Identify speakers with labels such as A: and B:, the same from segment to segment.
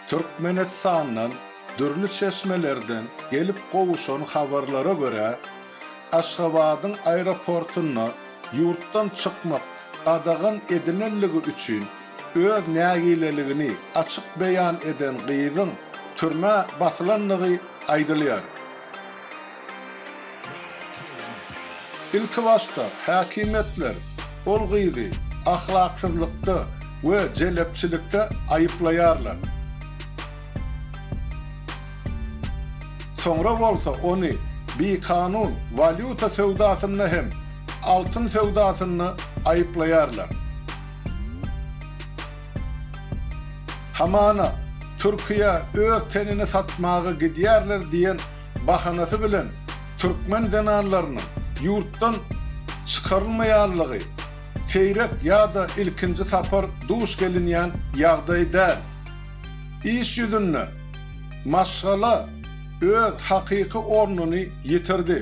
A: Türkmenistandan dürli çeşmelerden gelip gowuşan habarlara görä, Aşgabadyň aeroportunda ýurtdan çykmak gadagan edilenligi üçin öz nägileligini açyk beýan eden gyzyň türmä basylandygy aýdylýar. Ilkibaşda häkimiýetler ol gyzy ahlaksyzlykda we jelepçilikde aýyplaýarlar. Soňra bolsa ony bikanun walýuta söwdasynda hem altyn söwdasynda aýyplaýarlar. Hamana Türkiýä öz tenini satmaga gidýärler diýen bahanasy bilen türkmen zenanlarynyň ýurtdan çykarylmaýanlygy seýrek ýa-da ilkinji sapar duş gelinýän ýagdaý däl. Iş ýüzünde maşgala öz hakyky ornuny ýitirdi.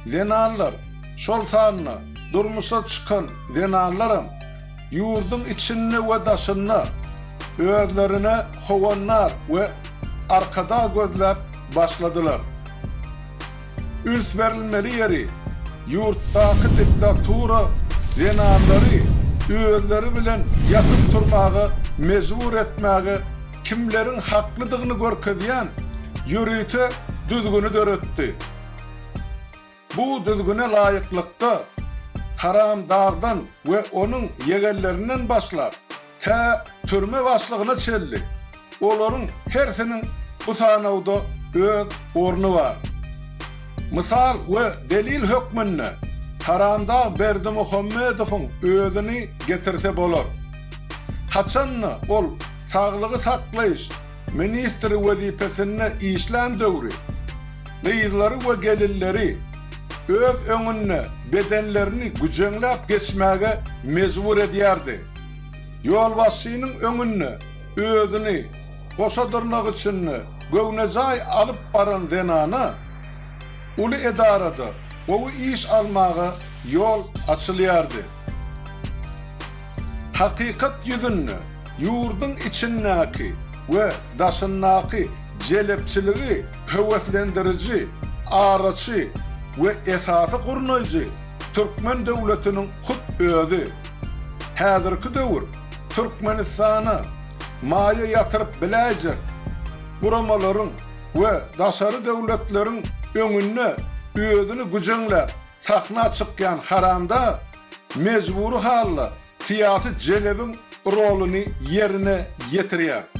A: Zenanlar, şol sanda durmuşa çykan zenanlaram Ýurduň içinde we daşynda özlerine howannak we arkadag gözläp başladylar. Üns berilmeli ýeri, ýurtdaky diktatura zenanlary özleri bilen ýatyp turmaga mejbur etmäge kimleriň haklydygyny görkezýän ýörite düzgüni döretdi. Bu düzgüne laýyklykda, Haram Dagdan we onuň ýegenlerinden başlap, tä türme başlygyna çenli, olaryň hersiniň bu sanawda öz orny bar. Mysal we delil hökmünde Haram Dag Berdimuhamedowyň özüni getirse bolar. Haçan-da ol saglygy saklaýyş ministri wezipesinde işlän döwri gyzlary we gelinleri öz öňünde bedenlerini güjeňläp geçmäge mejbur edýärdi. Ýolbaşçynyň öňünde özüni goşa dyrnak içinde göwnejaý alyp baran zenana uly edarada gowy iş almaga ýol açylýardy. Hakykat ýüzünde ýurduň içindäki we daşyndaky jelepçiligi höweslendiriji, araçy we esasy gurnaýjy türkmen döwletiniň hut özi. Häzirki döwür Türkmenistana maýa ýatyryp biläýjek guramalaryň we daşary döwletleriň öňünde özüni güjeňläp sahna çykýan haramdag, mejbury halda syýasy jelebiň roluny ýerine ýetirýär.